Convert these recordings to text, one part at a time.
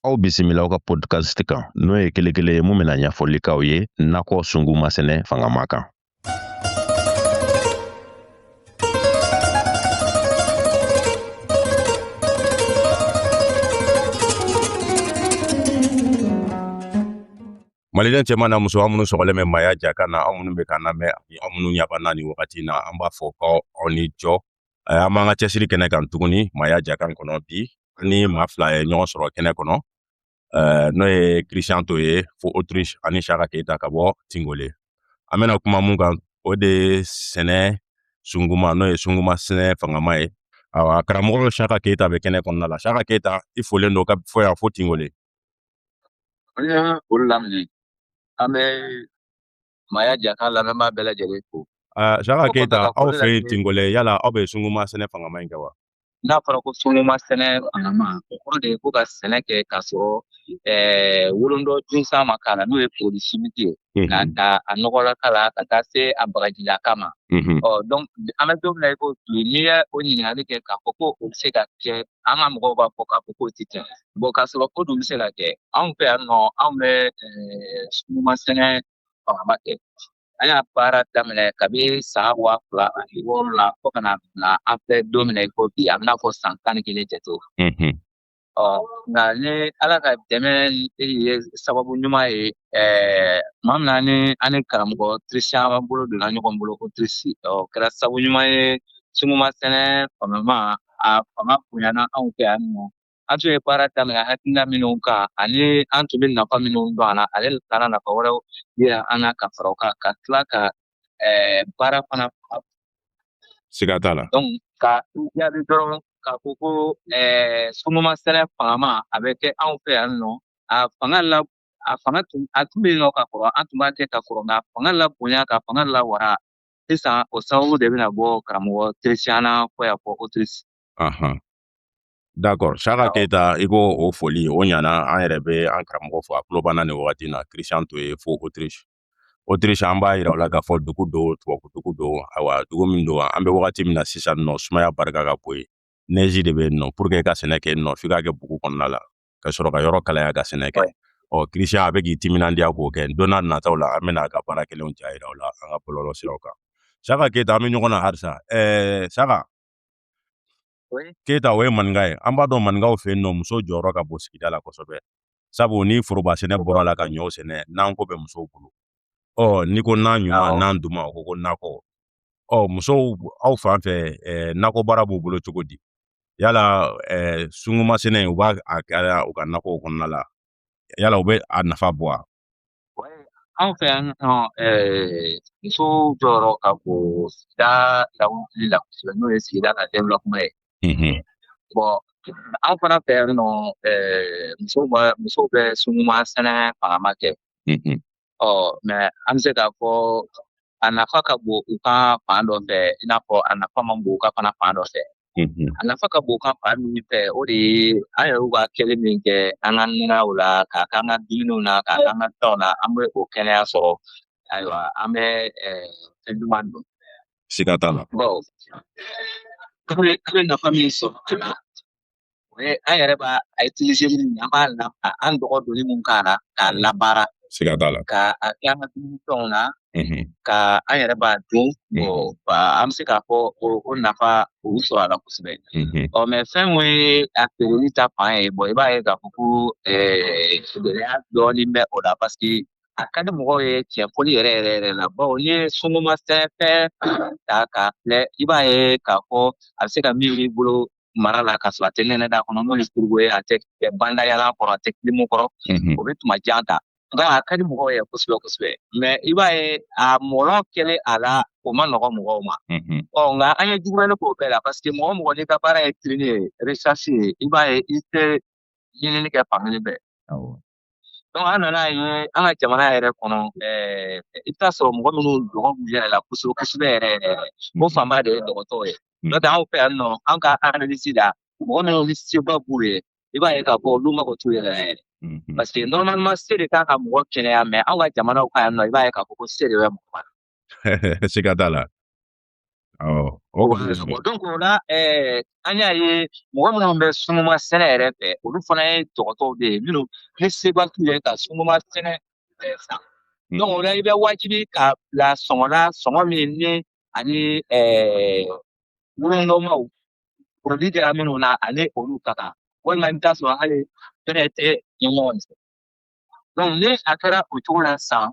aw bisimila aw ka podcast kan n'o ye kelekele ye min bɛna ɲɛfɔli k'aw ye nakɔ sunguma sɛnɛ fangama kan maliden cɛman n'a musoman minnu sɔgɔlen bɛ maaya ja kan na aw minnu bɛ k'an lamɛn ani aw minnu ɲa b'an na nin wagati na an b'a fɔ ko aw ni jɔ an b'an ka cɛsiri kɛnɛ kan tuguni maaya ja kan kɔnɔ bi an ni maa fila ye ɲɔgɔn sɔrɔ kɛnɛ kɔnɔ n'o ye christian to ye fo autriche ani saka keyita ka bɔ tingole an bɛna kuma mun kan o de ye sɛnɛ sunguma n'o ye sunguma sɛnɛ fangama ye awa karamɔgɔ saka keyita bɛ kɛnɛ kɔnɔna la saka keyita i folen don ka bɔ yan fo tingole an ye foli laminɛ an bɛ maaya ja kan lamɛnbaa bɛɛ lajɛlen fo ah, Saka Keyita aw fɛ yen Tingolɛ yala aw bɛ sunguma sɛnɛ fangama in kɛ wa n'a fɔra ko sunguma sɛnɛ fangama o kɔrɔ de ye ko ka sɛnɛ kɛ k'a sɔrɔ eh, wolondɔ junsan ma k'a la n'o ye produit chimique ye mhm. k'a ta a nɔgɔlaka la ka taa se a bagajilaka ma mhm. ɔ donc an bɛ don min na i ko bi n'i ye o ɲininkali kɛ k'a fɔ ko o bɛ se ka kɛ an ka mɔgɔw b'a fɔ k'a fɔ k'o tɛ kɛ bon k'a sɔrɔ o dun bɛ se ka kɛ anw fɛ yan nɔ anw bɛ sunguma sɛnɛ fangama kɛ an y'a baara daminɛ kabi san wa fila ani wɔɔrɔ la fo ka na bila an bɛ don min na i ko bi a bɛna fɔ san tan ni kelen jate ɔ nka ni ala ka dɛmɛ ye sababu ɲuman ye ɛɛ tuma min na ni an ni karamɔgɔ christian bolo donna ɲɔgɔn bolo fo autriche o kɛra sababu ɲuman ye sunguma sɛnɛ fangama a fanga bonyana anw fɛ yan nɔ an tun ye baara daminɛ hakilina minnu kan ani an tun bɛ nafa minnu dɔn a la ale taara nafa wɛrɛw yira an na ka fara o kan ka tila ka eh, baara fana siga t'a la ka jaabi dɔrɔn k'a fɔ ko eh, sunguma sɛnɛ fangama a bɛ kɛ anw fɛ yan nɔ a fanga la a fanga tun a tun bɛ yen nɔ ka kɔrɔ an tun b'a kɛ ka kɔrɔ nka fanga labonya k'a fanga lawara sisan o sababu de bɛna bɔ karamɔgɔ christian na ka bɔ yan fo autriche ahan d'accord saka keyita i k'o fɔli o ɲana an yɛrɛ bɛ an karamɔgɔ fo a tulo b'an na nin wagati na christian to ye fo autriche autriche an b'a yira o la k'a fɔ dugu don tubabu dugu don ayiwa dugu min don an bɛ wagati min na sisan nɔ sumaya barika ka bon yen neige de bɛ yen nɔ pour que ka sɛnɛ kɛ yen nɔ f'i k'a kɛ bugu kɔnɔna la ka sɔrɔ ka yɔrɔ kalaya ka sɛnɛ kɛ ɔ christian a bɛ k'i timinandiya k'o kɛ don nataw la an bɛna a ka baara kelenw ja yira o la an ka bɔlɔlɔ siraw kan saka keyita an bɛ ɲɔgɔn na halisa ɛɛ saka keyita o ye maninka ye an b'a dɔn maninkaw fɛ yen nɔ muso jɔyɔrɔ ka bon sigida la kosɛbɛ sabu ni foroba sɛnɛ bɔra a la ka ɲɔw sɛnɛ nan ko bɛ musow bolo ɔ n'i ko nan ɲuman nan duman o ko ko nakɔ ɔ musow aw fan fɛ nakɔ baara b'u bolo cogo di yala eh, sunguma sɛnɛ u b'a a kɛra u ka nakɔw kɔnɔna la yala u bɛ a nafa bɔ wa anw fɛ yan nɔ eh, muso jɔyɔrɔ ka bon sigida lawuli la kosɛbɛ n'o ye sigida ka développement ye bɔn an fana fɛ yan nɔ eh, musow bɛ sunguma sɛnɛ fangama kɛ ɔ mɛ an bɛ se k'a fɔ a nafa ka bon u kan fan dɔ fɛ i n'a fɔ a nafa man bon u kan fana fan dɔ fɛ mm-hmm. a nafa ka bon u kan fan min fɛ o de ye an yɛrɛw ka kɛli min kɛ an ka nɛnɛw la k'a k'an ka dumuniw na k'a k'an ka fɛnw na an bɛ o kɛnɛya sɔrɔ ayiwa an bɛ fɛn duman dun siga t'a la an bɛ nafa min sɔrɔ o ye an yɛrɛ b'a a utiliser min an b'a la an dɔgɔ doni mun k'a la k'a labaara siga t'a la ka a kɛ an ka dumuni fɛnw na ka an yɛrɛ b'a dun an bɛ se k'a fɔ o nafa o sɔrɔ a la kosɛbɛ ɔ mɛ fɛn mun ye a feereli ta fan ye bɔn i b'a ye k'a fɔ ko gɛlɛya dɔɔnin bɛ o la paseke a ka di mɔgɔw ye tiɲɛ foli yɛrɛ yɛrɛ yɛrɛ la bawo n'i ye sunguma sɛnɛfɛn ta k'a filɛ i b'a ye k'a fɔ a bɛ se ka mɛn i bolo mara la ka sɔrɔ a tɛ nɛnɛ da kɔnɔ n'o ye frigo ye a tɛ kɛ bandayala kɔrɔ a tɛ kilimu kɔrɔ o bɛ tuma jan ta nka a ka di mɔgɔw ye kosɛbɛ kosɛbɛ mɛ i b'a ye a mɔlɔ kɛlen a la o ma nɔgɔ mɔgɔw ma ɔ nka an ye jugumani k'o bɛɛ la parce que mɔgɔ o mɔgɔ n'i ka baara ye ɲinini ye recherche ye i b'a ye i tɛ ɲinini kɛ fan kelen fɛ Donc an nana ye an ka jamana yɛrɛ kɔnɔ ɛɛ i bɛ taa sɔrɔ mɔgɔ minnu dɔgɔ b'u yɛrɛ la kosɛbɛ kosɛbɛ yɛrɛ yɛrɛ ko hmm. fanba de ye dɔgɔtɔw ye n'o tɛ anw fɛ yan nɔ an ka analyse la mɔgɔ minnu ni seba b'u ye i b'a ye k'a fɔ olu mago t'u yɛrɛ la yɛrɛ parce que normalement se de kan ka mɔgɔ kɛnɛya mɛ anw ka jamanaw kan yan nɔ i b'a ye k'a fɔ ko se de bɛ mɔgɔ bana siga t'a la donc o la an y'a ye mɔgɔ minnu bɛ sunguma sɛnɛ yɛrɛ fɛ olu fana ye dɔgɔtɔw de ye minnu ni seba t'u ye ka sunguma sɛnɛfɛn san donc o la i bɛ wajibi k'a bila sɔngɔ la sɔngɔ min ni ani wolonɔmaw produit kɛra minnu na ani olu ka kan walima i bɛ taa sɔrɔ hali fɛnɛ tɛ ɲɔgɔn fɛ donc ni a kɛra o cogo la sisan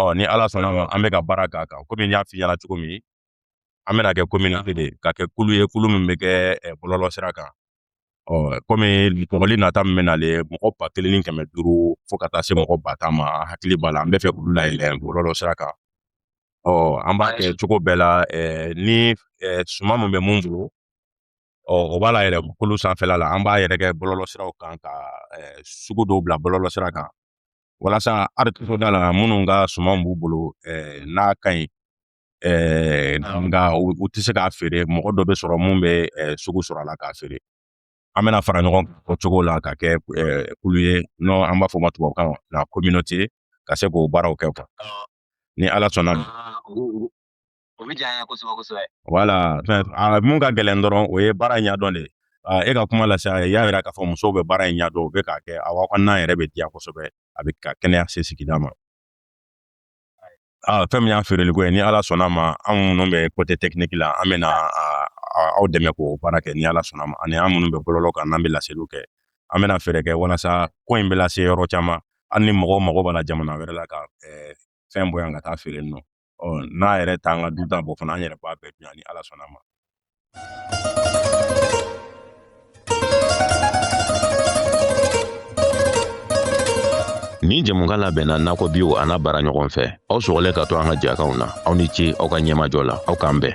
ɔ ni ala sɔnna ma an bɛ ka baara k'a kan komi n y'a f'i ɲɛna cogo min an bɛna kɛ communauté de ka kɛ kulu ye kulu min bɛ kɛ bɔlɔlɔ sira kan ɔ komi kɔgɔli nata min bɛ nale mɔgɔ ba kelen ni kɛmɛ duuru fo ka taa se mɔgɔ ba tan ma hakili b'a la an b'a fɛ k'olu layɛlɛ bɔlɔlɔ sira kan ɔ an b'a kɛ cogo bɛɛ la ni suman min bɛ min bolo ɔ o b'a layɛlɛ kulu sanfɛla la an b'a yɛrɛ kɛ bɔlɔlɔ siraw kan ka sugu dɔw bila bɔlɔlɔ sira kan walasa arikitoda la minnu ka suman b'u bolo eh, n'a ka ɲi eh, nka u tɛ se k'a feere mɔgɔ dɔ bɛ sɔrɔ mun bɛ eh, sugu sɔrɔ a la k'a feere an bɛna fara ɲɔgɔn o cogo la ka kɛ eh, kulu ye n'an b'a fɔ ma tubabukan na communauté ka se k'o baaraw kɛ quoi ni ala sɔnna o bɛ diya kosɛbɛ kosɛbɛ voilà mun ka gɛlɛn dɔrɔn o ye baara ɲɛdɔn de ye ka kuma lase a ye y'a jira k'a fɔ musow bɛ baara in ɲɛdɔn u bɛ k'a kɛ a aw ka n'an yɛrɛ bɛ diya kosɛbɛ a bɛ ka kɛnɛya se sigida ma fɛn min y'a feereli ko ye ni ala sɔnna ma anw minnu bɛ côté technique la an bɛna aw dɛmɛ k'o baara kɛ ni ala sɔnna ma ani an minnu bɛ bɔlɔlɔ kan n'an bɛ laseliw kɛ an bɛna fɛɛrɛ kɛ walasa ko in bɛ lase yɔrɔ caman hali ni mɔgɔw mago b'a la jamana wɛrɛ la ka fɛn bɔ yan ka taa feere nɔ ɔ n'a yɛrɛ t'an ka dunta bɔ fana an yɛrɛ b'a bɛɛ dun ni ala sɔnna ma Nin jɛmukan labɛnna nakɔ bio an'a baaraɲɔgɔn fɛ aw sɔgɔlen ka to an ka jɛkanw na aw ni ce aw ka ɲɛmajɔ la aw k'an bɛn